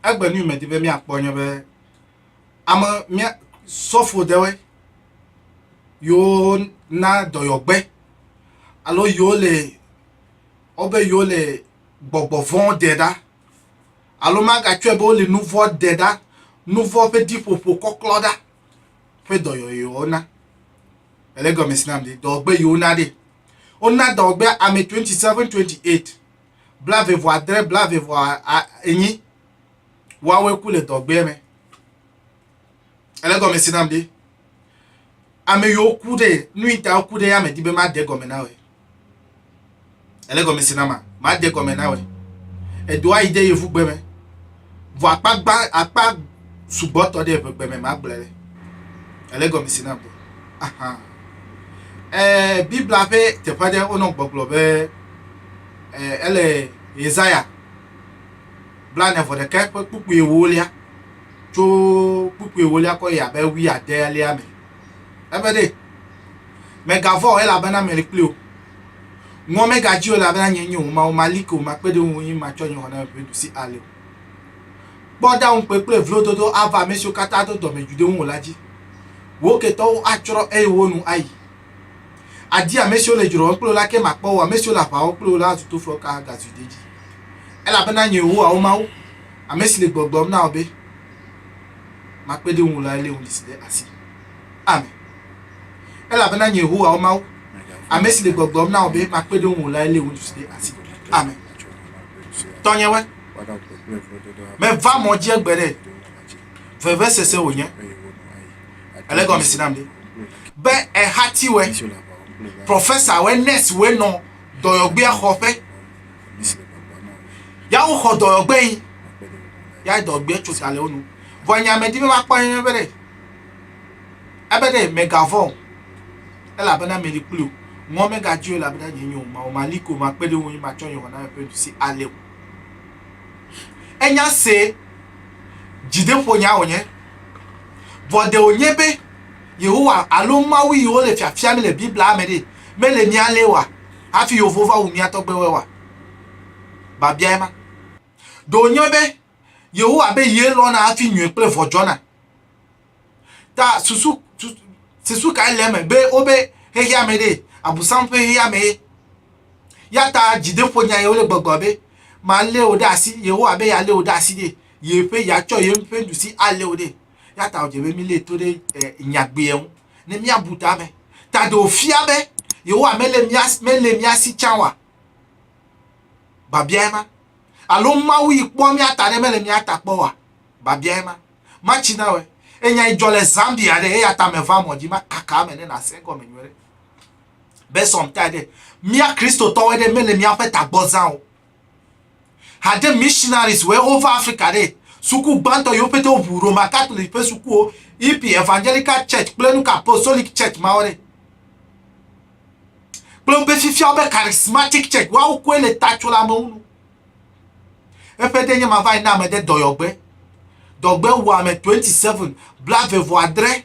Egbe nu medi be míakpɔ nye be ame mía sɔfo ɖewoe yewo na dɔyɔgbe alo yewo le wobe yewo le gbɔgbɔ vɔ ɖe ɖa alo magatsɔe be wole nu vɔ ɖe ɖa, nu vɔ ƒe ɖiƒoƒo kɔklɔ ɖa. ƒe dɔyɔyɔwo na. Ele gɔme si nam de dɔgbe yiwo na ɖe. Wona dɔgbe ame 27 28 bla ve vɔ adre bla ve vɔ enyi woawoe ku le dɔgbe me. Ele gɔme si nam de. Ame yiwo ku ɖe nu yi ta woku ɖe ya me di be made gɔme na woe. Ele gɔme si na ma, ma de gɔme na wɛ. Edo ayi de yevu gbe me. Vɔ akpa gba akpa sugbɔ tɔ de eƒe gbe me ma gblɔ le. Ele gɔme si na bo. Aha. Eh, Biblia ƒe teƒe aɖe wonɔ gbɔgblɔ be eh, ele Yesaya blane vɔ ɖeka ƒe kpukpui ewolia tso kpukpui ewolia kɔ yi abe wui adelia me. Ebe ɖe, Mègavɔ̃ o, elabena mele kpli wò. Ŋuwò megadzi o, elabena nyee nye wò Mawu, mali ke wò, makpe ɖe ŋuwò, eye matsɔ nye xɔnameɖusi ali wò. Kpɔ ɖa ŋukpe kple vlododo ava ame siwo katã do dɔmedzoe ɖe ŋuwò la dzi. Wò ketɔwo atsrɔ̃, eye wò nu ayi. Àdi ame siwo le dzrowɔm kple wò la, ke makpɔ wò o, ame siwo le aʋa wɔm kple wò la azu toflɔka agazu dedie. Elabena nye Yehowa, wò Mawu, ame si le gbɔgblɔm na wò be, makpe ɖe ŋu lae lé ŋuɖisi ɖe asi. Ame. Elabena nye Yehowa wò Mawu, ame si le gbɔgblɔm na wò be makpe ɖe ŋu lae lé ŋuɖisi ɖe asi. Ame. Tɔnyewe. Meva mɔ dzi egbe ɖe. Vevesese wònye. Ele gɔme si nam ɖe. Be ehatiwe, prɔfesawe, nɛsiwe nɔ dɔyɔgbea xɔƒe. Ya woxɔ dɔyɔgbe yi. Ya dɔgbe tso sa le wo nu. Vɔ nya me di be makpɔ ye be ɖe. Ebe ɖe megavɔ̃ o. Elabena meli kpli o. Ŋɔ megadzi o elabena nye nyo ma o. Mali ko makpe ɖe wo ŋu matsɔ nye wɔna ƒe nuɖusi ale o. Enya se dzideƒonya wònye. Vɔ ɖe wònye be Yehowa alo Mawu yi wole fiafiam le Biblia me ɖe mele mía le oa? Hafi yewo va wu mía tɔgbuiwoa? Biabiae ma. Ɖe wònye be Yehowa be ye lɔ̃na hafi nyui kple vɔ̃ dzɔna ta susu susu kae le eme be wobe xexeame ɖee, Abosam ƒe xexeamee? Eya ta dzideƒonyae wole gbɔgblɔ be, Malé wò ɖe asi. Yehowa be yealé wò ɖe asi ɖee, yeƒe, yeatsɔ ye ƒe nuɖusi alé wò ɖee. Eya ta wòdze be mílée to ɖe nyagbea ŋu. ne míabu ta me. Ta ɖe wòfia be Yehowa mele mía, mele mía si tsã oa? Biabiae ma. Alo Mawu yi kpɔa mía ta ɖe mele mía ta kpɔ oa? Biabiae ma. Matsi na wòe. Enya yi dzɔ le Zambia ɖe, eya ta meva mɔ dzi makaka eme ne nàse egɔme nyuie ɖe. Be sɔmtae ɖe, mía Kristotɔwoe ɖe mele míaƒe tagbɔ zã o. Hade missionaries were over Africa ɖe. Suku gbãtɔ yewo pete woʋu Roma Catholic ƒe sukuwo, Hippie, Evangelical Church kple nuka Apostolic Church mawo ɖe. Kple woƒe fifiawo be Charismatic Church woawo koe le ta tso le amewo nu. Eƒe ɖe nye ma va yi na ame ɖe dɔyɔgbe. Dɔgbe wua ame 27, blavevɔ adre.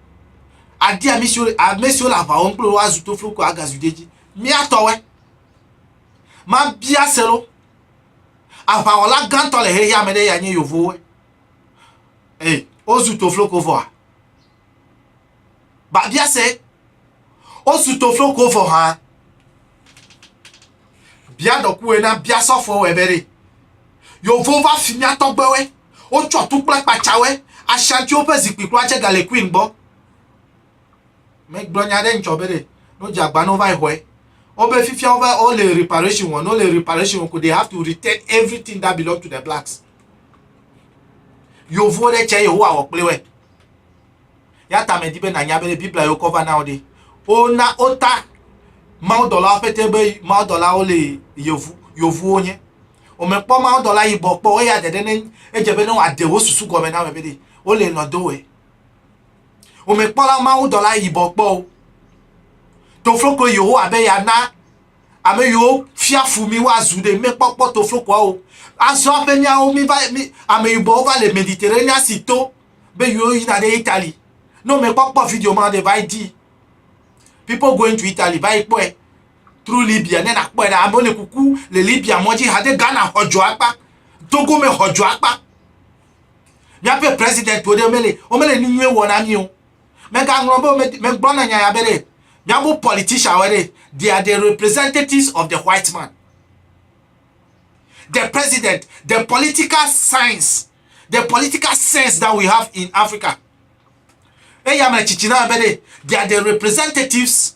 adi ame siwo ame siwo le aʋa wɔm kple woazu toflo ko agazu ɖe edzi mía tɔwɔe mabia se lo aʋawɔla gãtɔ le xexea me ɖe ya nye yevowoe ee wozu toflo ko vɔa babia se wozu toflo ko vɔ hã bia dɔkuwe na bia sɔfo wɔ ebe ɖe yevo va fi mía tɔgbewoe Wotsɔ tu kple kpatsawɛ Ashantiwo ƒe zikpui kura tse gale Queen gbɔ. Megblɔ nya ɖe ŋtsɔ be ɖe no dze agba no vae xɔe. Wobe fifia wobe wo le reparation wɔ no le reparation wɔ ko they have to return everything that belong to the blacks. Yovuwo ɖe tse yewo awɔ kple wɛ. Ya ta me di be na nya be ɖe Biblia yewo kɔ va na wo ɖe. Wo na wo ta mawudɔlawo pete be mawudɔlawo le yovu yovuwo nye. Womekpɔ mawudɔla yibɔ kpɔ o, eya ɖeɖe ne edze be ne wòaɖe wo susu gɔme na ame be ɖe wole lɔ̃ do wɔe. Womekpɔla mawudɔla yibɔ kpɔ o. Tofloko Yehowa be yeana ame yiwo fia fu mí woazu ɖe míekpɔkpɔ toflokoa o. Azɔ aƒe míawo míva mí ame yibɔwo va le Mediterranea si to be yiwo yina ɖe Italy. Ne womekpɔkpɔ video ma o ɖe va yi di. People going to Italy va yi kpɔe. tro Libya ne nakpɔe ɖa. Amewo le kuku le Libya mɔ dzi hade Ghana xɔ dzɔ akpa, Togo me xɔ dzɔ akpa. Míaƒe president wo ɖe mele womele nu nyuie wɔ na mí o. Megaŋlɔ be megblɔ na nya ya be ɖe míaƒe politician wɔ ɖe they are the representatives of the white man. The president, the political science, the political sense that we have in Africa. Eya me tsitsi na be ɖe they are the representatives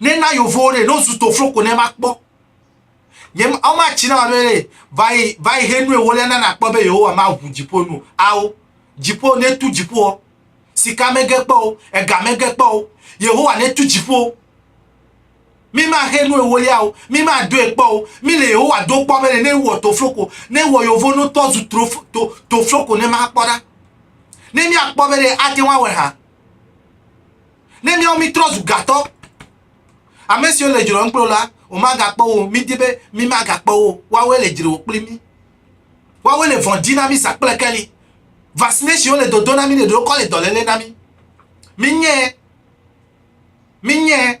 Ne na yovo ɖe no zu to flo ko ne ma kpɔ. Nye awo ma tsi na ma be ne vai vai he nu ewo le na na kpɔ be yewo wa ma hu dzipo nu awo. Dzipo ne tu dzipo sika me ge kpɔ o ega me ge kpɔ o Yehowa ne tu dzipo. Mi ma he nu ewo le awo mi ma do e kpɔ o mi le Yehowa do kpɔ be ne wɔ to flo ko ne wɔ yovo no tɔ zu tro to to flo ko ne ma kpɔ ɖa. Ne mi akpɔ be ne ate wa wɛ ha. Ne míawo mítrɔ zu gatɔ, ame siwo le dzrewò kple wò la, womagakpɔ wo o. Mídi be mímagakpɔ wo o. Woawoe le dzrewò kpli mí. Woawoe le vɔ̃ di na mí zã kple keli. Vaccination le dodo na mí ɖeɖe wokɔ le dɔléle na mí. Minyae, minyae.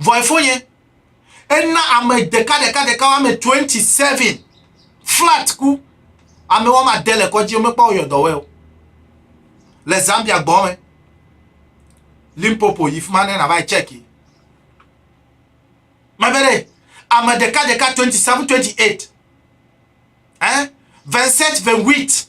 Vɔ efonye, ena ame ɖeka ɖeka ɖeka woame 27 flat ku. Ame woame ade le kɔdzi womekpɔ woyɔ dɔwɔe o. Le Zambia gbɔ me. Limpopo yi fima ne nava yi check yi. Mebe ɖe ame ɖeka ɖeka 27 28 eh 27 28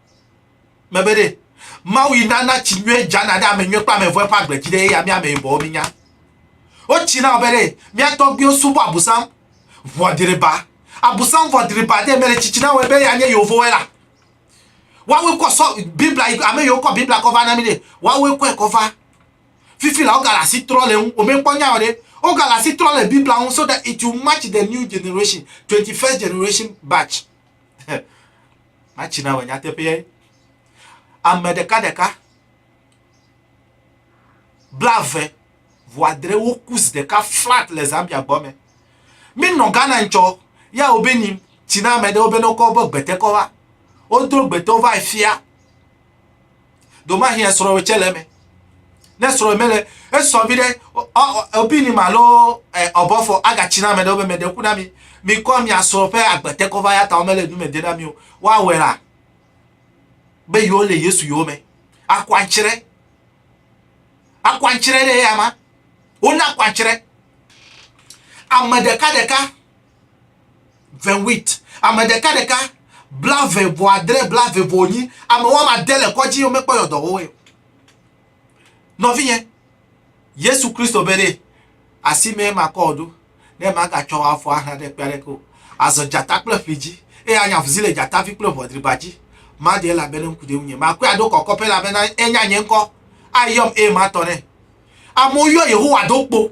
Mebe ɖe, Mawu yi nana tsi nyuie dzana ɖe ame nyuie kple ame vɔ̃e ƒe agbe dzi ɖe eya mí ame yibɔwo mínya. Wotsi na wo be ɖe, mía tɔgbuiwo subɔ abusam ʋɔdriba. Abusam ʋɔdriba ɖe mele tsitsi na wɔe be eya nye yewovoe la. Woawoe kɔ sɔ Biblia yi ame yiwo kɔ Biblia kɔ va na mí ɖe, woawoe kɔe kɔ va. Fifi la wogale asi trɔ le ŋu, womekpɔ nya o ɖe, wogale asi trɔ le Biblia ŋu so that it will match the new generation, 21st generation batch. Matsi na wò nyateƒeae. Ame ɖeka ɖeka, blave ʋu adre wo kus ɖeka flat le Zambia gbɔ me. Mi nɔ Ghana ŋtsɔ, ya wo be ni tsi na ame ɖewo be ne wokɔ wobe gbete kɔ va. Wodro gbete wo va efia. Domahi esrɔ̃wòe tse le eme. Ne srɔ̃wòe mele, esɔ vi ɖe, opini ma lo ɔbɔfɔ agatsi na ame ɖewo be meɖe ŋku na mi. Mikɔ mia srɔ̃ ƒe agbete kɔ va ya ta womele nu me de na mi o. Woawɔe la be yewo le Yesu yewo me. Akɔ antsrɛ. Akɔ antsrɛ ɖe eya ma. Wona kɔ antsrɛ. Ame ɖeka ɖeka. vewit ame ɖeka ɖeka bla ve vɔ adre bla ve vɔ nyi ame wɔme ade le kɔdzi yo mekpɔ yɔ dɔwɔ wɛ nɔvinyɛ yesu kristo be ɖe asi mɛ ma kɔ ɖo ne ma ga tsɔ wa fɔ aha ɖe kpɛ ɖe ko azɔ jata kple ƒli dzi eye anya vuzi le jata vi kple ʋɔdriba dzi ma ɖe la be ne ŋku ɖe ŋu nye ma kɔe aɖo kɔkɔ pe la be na enya nye ŋkɔ ayɔm eye ma tɔ ne amewo yɔ yehowa ɖo kpo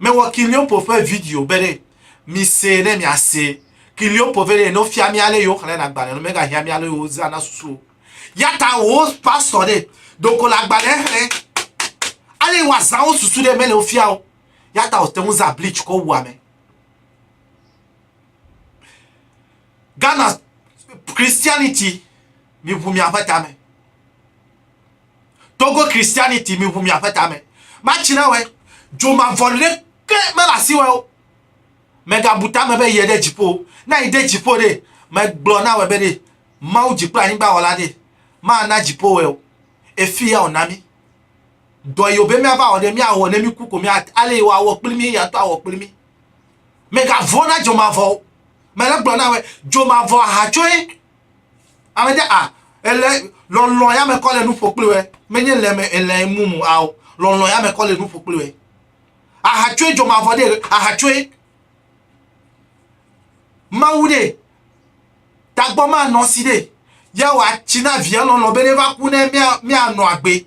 Mewɔ Kiliompo ƒe video be ɖe misee ne miasee. Kiliompo vɛ ɖee ne wofia mí ale yi woxlẽna agbalẽ ɖo megahiã mí ale yi wozãna susu o. Yata wò pastɔ ɖe ɖeko le agbalẽ xlẽ ale yi woazã wo susu ɖe mele wo fia o. Yata wòte ŋu zã bleach kɔ wu ame. Ghana Christianity miŋu miaƒe tame. Togo Christianity mi ŋu miaƒe tame. Matsi na wɛ. Dzo mavɔ ɖeke mele asi wɛ o. Mègabu tame be yie ɖe dziƒo o. Ne àyi ɖe dziƒo ɖe, megblɔ na wɛ be ɖe Mawu dzi kple anyigba wɔla ɖe mana dziƒo wɛ o. Efi ya wòna mí. Dɔ yi wòbe míava wɔ ɖe, míawɔ ne míku ko mía ale yi wòawɔ kpli mí, eya ŋutɔ awɔ kpli mí. Mègavɔ̃ na dzo mavɔ o. Mele gblɔ na wɛ, dzo mavɔ ahatsoe. Amedze a ele lɔlɔ ya me kɔ le nuƒo kple wɛ. Menye le me ele mumu ao lɔlɔ ya me kɔ le nuƒo kple wɛ. Aha tsoe dzɔ mavɔ de aha tsoe. Mawu de tagbɔ ma nɔ si de. Ya wa tsi na via lɔlɔ be ne va ku ne mia mia nɔ agbe.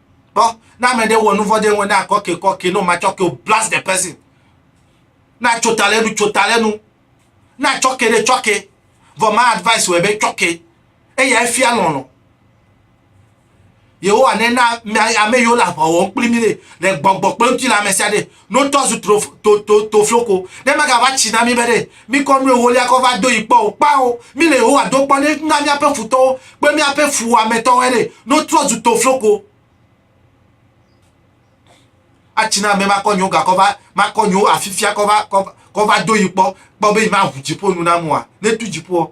Kpɔ, ne ame ɖe wɔ nu vɔ̃ ɖe ŋu na kɔke kɔke no matsɔ ke o blast the person. Na tso ta le nu tso ta le nu. Na tsɔ ke ɖe tsɔ ke. Vɔ ma advice wɔ be tsɔ ke. Eya efia lɔlɔ. Yehowa ne na ame yiwo le aʋa wɔm kpli mi le gbɔgbɔ kple ŋutilã me sia ɖe No tɔ zu tro, to, to, to floko. Ne magava tsi na mi be ɖe mikɔ nu ewolia kɔ va do yi kpɔ o. Kpao, mi le Yehowa do kpɔ ne na miaƒe futɔwo kple miaƒe fuwɔametɔwoe ɖe. No trɔ zu to floko. Atsi na ame makɔ nyewo ga kɔ va, makɔ nyewo afifia kɔ va, kɔ va, kɔ va do yi kpɔ, kpɔ be yi maʋu dziƒo nu nam oa? Ne tu dziƒoɔ.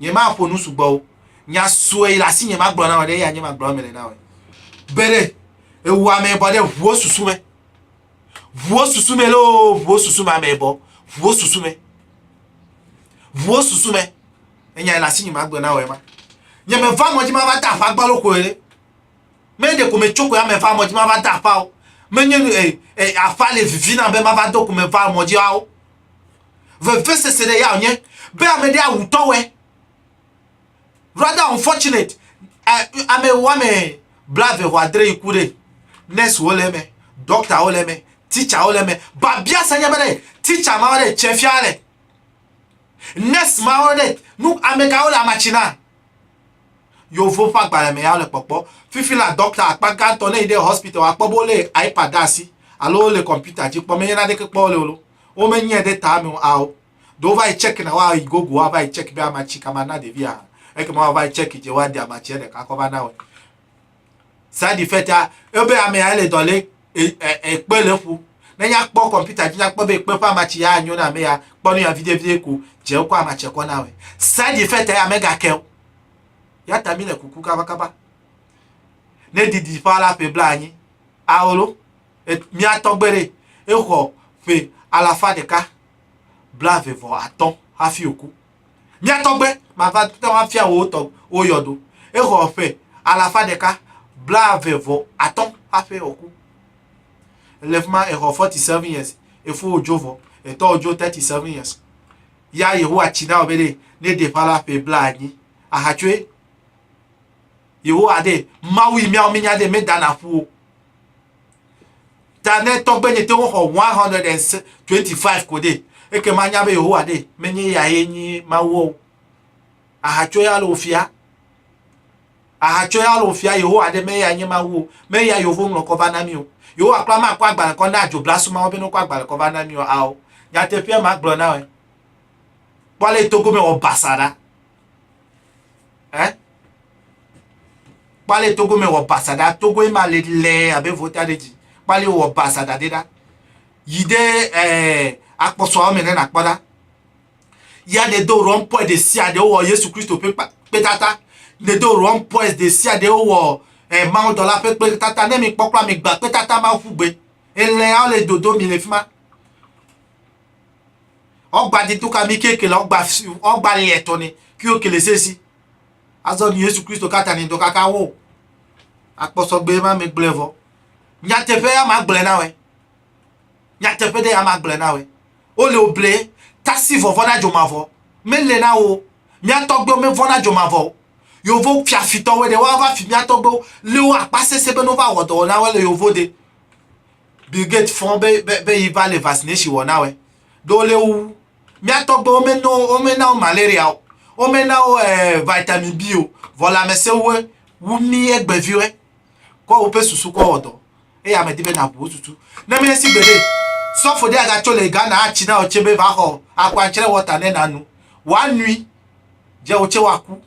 Nyemaƒo nu sugbɔ o. Nya sue le asinye magblɔ na wò ɖe eya nye magblɔ eme le na wò. Be ɖe ewɔ ame bɔ ɖe ʋuwo susu me. Ʋuwo susu me loo, ʋuwo susu me ame bɔ. Ʋuwo susu me. Ʋuwo susu me. Enya le asinye magblɔ na wò ema. Nye me va mɔdzi ma va ta afa gbalo koe ɖe. Me ɖe ko me tso koe ame va mɔdzi ma va ta afa o. Menye nu e, e afa le vivi na be ma va do ko me va mɔdzi ao. Veveseseɖe ya wònye be ame ɖe awu tɔwɔe. Rather unfortunate, ame woame blave xɔ adre yi ku ɖe. Nursewo le eme, dɔktawo le eme, teacherwo le eme. Babia se nye be ɖe teacher mawo ɖe tse fia le. Nurse mawo ɖe nu ame kawo le amatsi na. Yovo ƒe agbalẽ me ya wole kpɔkpɔ. Fifi la dɔkta akpa gãtɔ ne yi ɖe hospital akpɔ be wole iPad ɖe asi alo wole kɔmputa dzi kpɔ menye naneke kpɔ wole o. Womenyae ɖe ta me o ao. Do wova yi check na woa yi gogo woava yi check be amatsi ka mana ɖevia hã. Ekema woava yi check dze woaɖe amatsia ɖeka kɔ va na wɔ. Side effect a ebe ame ya le dɔ le ekpe le ƒu. Ne nya kpɔ kɔmputa dzi nya kpɔ be ekpe ƒe amatsi ya anyo na ame ya kpɔ nu ya viɖe viɖe ko dze wokɔ amatsia kɔ na wɔ. Side effect ya megake o. Ya ta mi le kuku kaba kaba. Ne didi ƒa la ƒe bla anyi. Aolo. mía tɔgbe ɖee, exɔ ƒe alafa ɖeka blaeve vɔ atɔ̃ hafi wòku. Mía tɔgbe mava te ŋu afia wò tɔ wò yɔdo. Exɔ ƒe alafa ɖeka blaeve vɔ atɔ̃ hafi wòku. Le fi ma exɔ forty seven years, efo wòdzo vɔ, etɔ wòdzo thirty seven years. Ya Yehowa tsi na wò be ɖe ne ɖe ƒala ƒe blaenyi ahatsoe. Yehowa ɖe Mawu yi míawo mínya ɖe medana ƒu o. Ta ne tɔgbe nye te woxɔ 125 ko ɖe, eke ma nya be Yehowa ɖe menye ya ye nyi Mawu o. Ahatso ya le ofia. Ahatso ya le ofia Yehowa ɖe menye ya nye Mawu o. Menye ya Yehowa ŋlɔ kɔ va na mi o. Yehowa kura ma kɔ agbalẽ kɔ na adzoblasu mawo be ne kɔ agbalẽ kɔ va na mi o. Ao. Nyateƒea ma gblɔ na wɔ. Kpɔ le togo me wɔ basa ɖa. eh kpali togo me wɔ basaɖa togo ye ma le lɛ abe vota ɖe dzi kpali wɔ basaɖa ɖe ɖa yi ɖe eh, akpɔsɔawo me ne nakpɔ ɖa ya ne do rɔmpɔe ɖe sia ɖe wowɔ yesu kristo ƒe kpetata ne do rɔmpɔe ɖe sia ɖe wowɔ eh, mawudɔla ƒe kpetata ne mi kpɔkpɔ mi gba kpetata ma ƒu gbe elɛawo le dodo mi le fi ma Ɔgba di tuka mi kekele ɔgba ɔgba liɛ tɔni ki o kele sesi. Azɔ ni Yesu Kristo kata ni dɔ kaka wo. Akpɔsɔ gbe ma mi gblɛ vɔ. Nya teƒe ya ma gblɛ na wɛ. Nya teƒe de ya ma gblɛ na wɛ. O le o ble tasi vɔvɔ na jo ma vɔ. Me le na wo. Mi atɔ gbe o me vɔ na jo ma vɔ. Yo vɔ fiafi tɔ wɛ de wa va fi mi atɔ gbe o. Le o akpa sese be no va wɔ dɔ wɔ na wɛ le yo vɔ de. Bill Gates fɔ be, be, be yi va le vaccination wɔ na wɛ. Ɖo wo le wu. Mía tɔgbe wo me no, wo me na wo malaria o. Wo me na wo eh, vitamin B o. Vɔ lãmesẽ wu wu mí egbevi wɛ. Kɔ woƒe susu kɔ wɔ dɔ. Eya me di be na ʋu wo susu. Ne me si gbeɖe, sɔfo ɖe aga tso le Ghana a tsi na wò tse be va xɔ akwantsrɛ water ne na nu. Wa nui. Dze wò tse wa ku.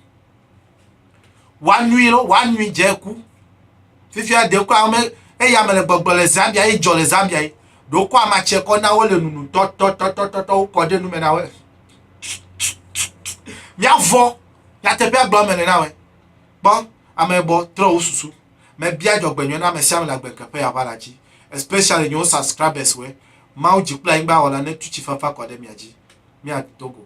woanui lɔ woanui dze ku fifia ɖe kura ame eya ame le gbɔgblɔ le zambia ye dzɔ le zambia ye ɖe wokɔ amatsia kɔ na wo le nunu tɔtɔtɔtɔtɔ wokɔ ɖe nume na wo miavɔ nyateƒea gblɔ me le na wo kpɔ ame bɔ trɔ wo susu mebia dzɔgbenyɔ na ame sia ame le agbenkeƒe ya ʋala dzi especially nyewo subscribers we mawu dzi kple anyigba wɔla ne tu tsi fafa kɔ ɖe mia dzi miado go